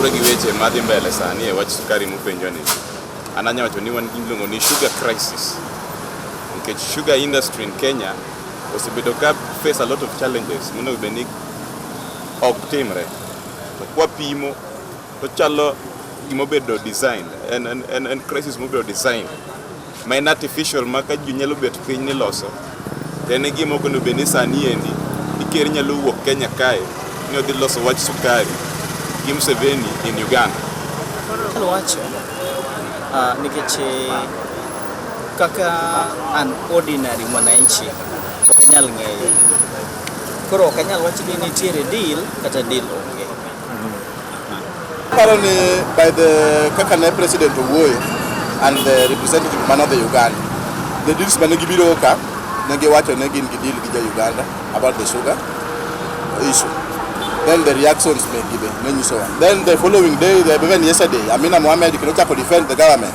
weche madhi mbele sani e wach sukari mupenjo ni an anya wacho ni wan giluongo ni sugar crisis nikech sugar industry in Kenya osebedo ka face a lot of challenges monego bed ni ok timre To kwapimo to chalo gima obedo design en, en, en, en crisis mobedo design ma en artificial ma ka ji nyalo bet piny ni loso to en e gima okono bed ni sani endi iker nyalo wuok Kenya kae ni odhi loso wach sukari gi Museveni in Uganda. Anyalo wacho ah, nikech eh, kaka an ordinary mwananchi ok anyal ng'eyo Koro ok anyal wacho ni nitiere deal kata deal onge. Aparo ni by the kaka ne president owuoyo and the representative man of the Uganda, the deals mane gibiro ka ne giwacho ne gin gi deal gi ja Uganda about the sugar issue. Then the reactions may give ne nyisowa. Then the following day, the, even yesterday, Amina Mohamed kendo chako defend the government.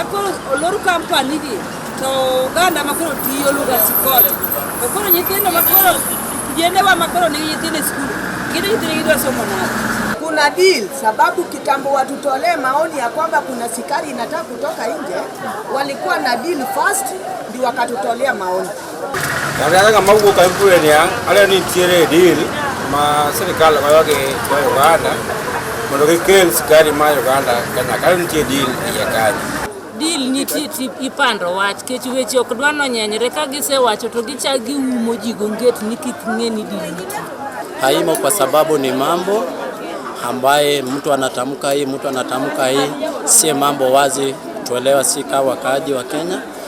Akoro olor company gi to oganda ma koro tiyo luga sikol. To koro nyithindo ma koro jendewa ma koro nigi nyithindo e skul, gin nyithindo gidwa somo nade? Kuna deal sababu kitambo watutolee maoni ya kwamba kuna sikari inataka kutoka nje, walikuwa na deal first ndio wakatutolea maoni. Nataka kama huko kampuni ni ale ni tiere deal ma serikali kwa yoke kwa Uganda mondo gikel sukari ma Uganda Kenya kale nitie deal ya Kenya deal nitie ipando wach kech weche ok dwa nonyenyre ka gisewacho to gichak giumo ji gonget ni kik ng'e ni deal nitie haimo kwa sababu ni mambo ambaye mtu anatamka hii mtu anatamka hii, si mambo wazi tuelewa, si kawa wakaaji wa Kenya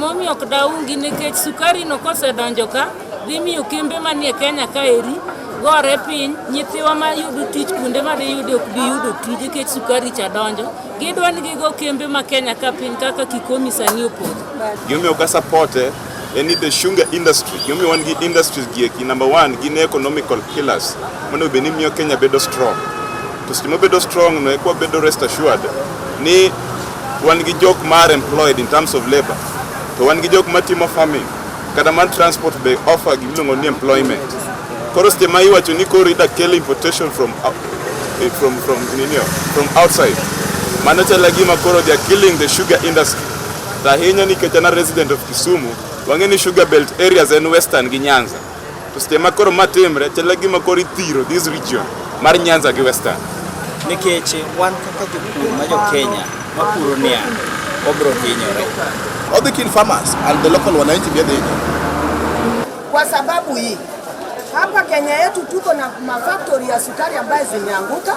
Momiyo ok daungi nikech sukari no kosedonjo ka dhi miyo kembe manie Kenya ka eri gore piny nyithiwa ma yudo tich kuonde ma diyude ok bi yudo tich nikech sukari cha donjo gidwa ni gigo kembe ma Kenya ka piny kaka Kikomi sani opodho. Gimiyo ka support en ni the sugar industry gimomiyo wan gi industries gieki number one gin economical pillars monego bed ni miyo kenya bedo strong to seche mobedo strong no ekwa bedo rest assured ni wan gi jok mar employed in terms of labor to wan gi jok matimo farming kata man transport be offer gimiluongo ni employment koro seche ma iwacho ni koro ida kel importation from, out- eh, from, from, ninio, from outside mano chala gima koro they are killing the sugar industry To ahinya nikech an a resident of Kisumu, wang'e ni sugar belt areas en western gi Nyanza. To seche ma koro ma timre, chalo gima koro ithiro this region mar Nyanza gi western. Nikech wan kaka jopur ma jo Kenya mapuro niang', wabiro hinyore. All the kin farmers and the local wananchi vya the Kwa sababu hii hapa Kenya yetu tuko na mafaktori ya sukari ambayo zimeanguka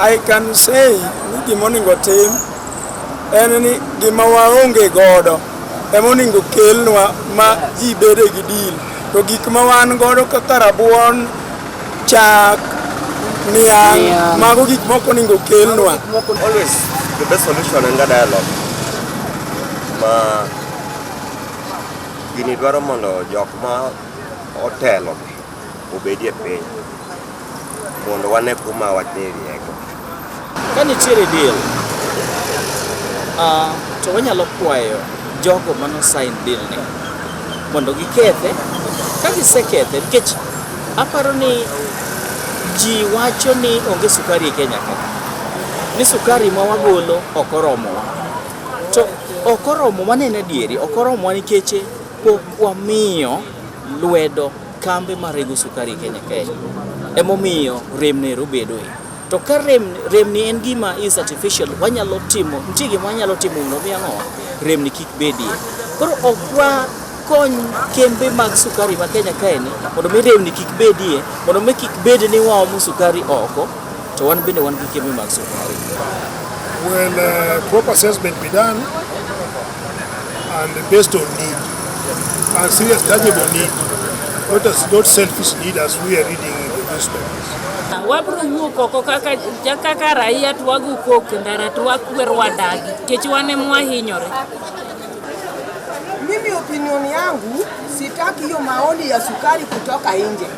I can say ni gima onego tim en ni gima waonge godo ema onego kelnwa ma ji bede gi deal to gik ma wan godo kaka rabuon chak niang' Niang'. mago gik moko onego kelnwa always the best solution en ga dialogue ma Gini dwaro mondo jok ma otelo obedie piny mondo wane kuma wateriego. Ka nitiere deal, uh, to wanyalo kwayo jogo mano sign deal ni mondo gikethe. Ka gisekethe, nikech aparo ni ji wacho ni onge sukari e Kenya ka, ni sukari ma wagolo ok oromowa. To ok oromo mano en adieri, ok oromo nikech pok wamiyo lwedo kambe marego sukari e Kenya kae. Emomiyo rem nero bedoe. To ka rem, remni en gima is artificial, wanyalo timo, nitie gima wanyalo timo mondo mi ang'owa, remni kik bedie. Koro ok wakony kembe mag sukari ma Kenya kaeni mondo mi remni kik bedie, mondo mi kik bed ni waomo sukari oko. To wan bende wan gi kembe mag sukari. Well, uh, proper assessment be done and based on need and serious tangible need, not, as, not selfish need as we are reading in the newspapers. wabro wuok oko kaka ja- kaka raia to wago kok e ndara to wakwer wadagi nikech wan em wahinyore Mimi opinion yangu sitaki hiyo maoni ya sukari kutoka nje.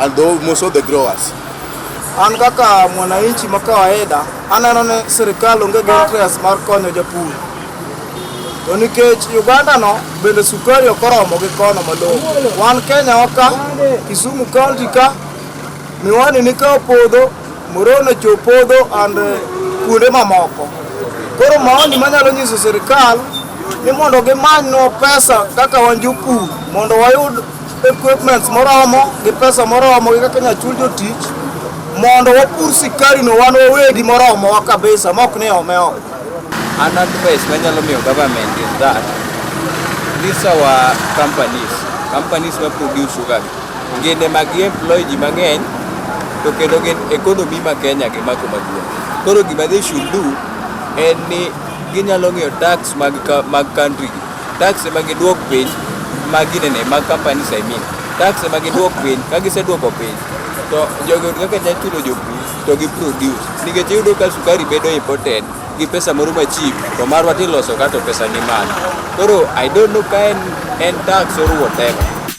and those, most of the growers. An kaka mwananchi ma kawaida aneno ni sirikal onge gi interest mar konyo japur, to nikech Uganda no bende sukari ok oromo gi kono malong'o. Wan Kenya waka Kisumu county ka miwani ni ka opodho Moroni ocho podho and eh, kuonde mamoko. Koro maoni manyalo nyiso sirikal ni mondo gimanywa pesa kaka wan jopur mondo wayud equipments moromo gi pesa moromo gi kaka nyachul jotich mondo wapur sikari no wan wawegi moromowa kabisa mok ni ome oko. An advice manyalo miyo government is that these our companies, companies ma produce sugar ginde mag employ ji mang'eny to kendo gin economy ma Kenya gi mako maduong'. Koro gima they should do en ni ginyalo ng'iyo tax mag, ka- mag country gi Tax ema giduok piny ma ginene mag companies I mean. Tax ema giduok piny, ka giseduoko piny to jogi oyud kaka nyalo chulo jopur to gi produce nikech iyudo ka sukari bedo imported gi pesa moro ma cheap to marwa tiloso ka to pesa ni malo. Koro I don't know ka en, en tax or whatever.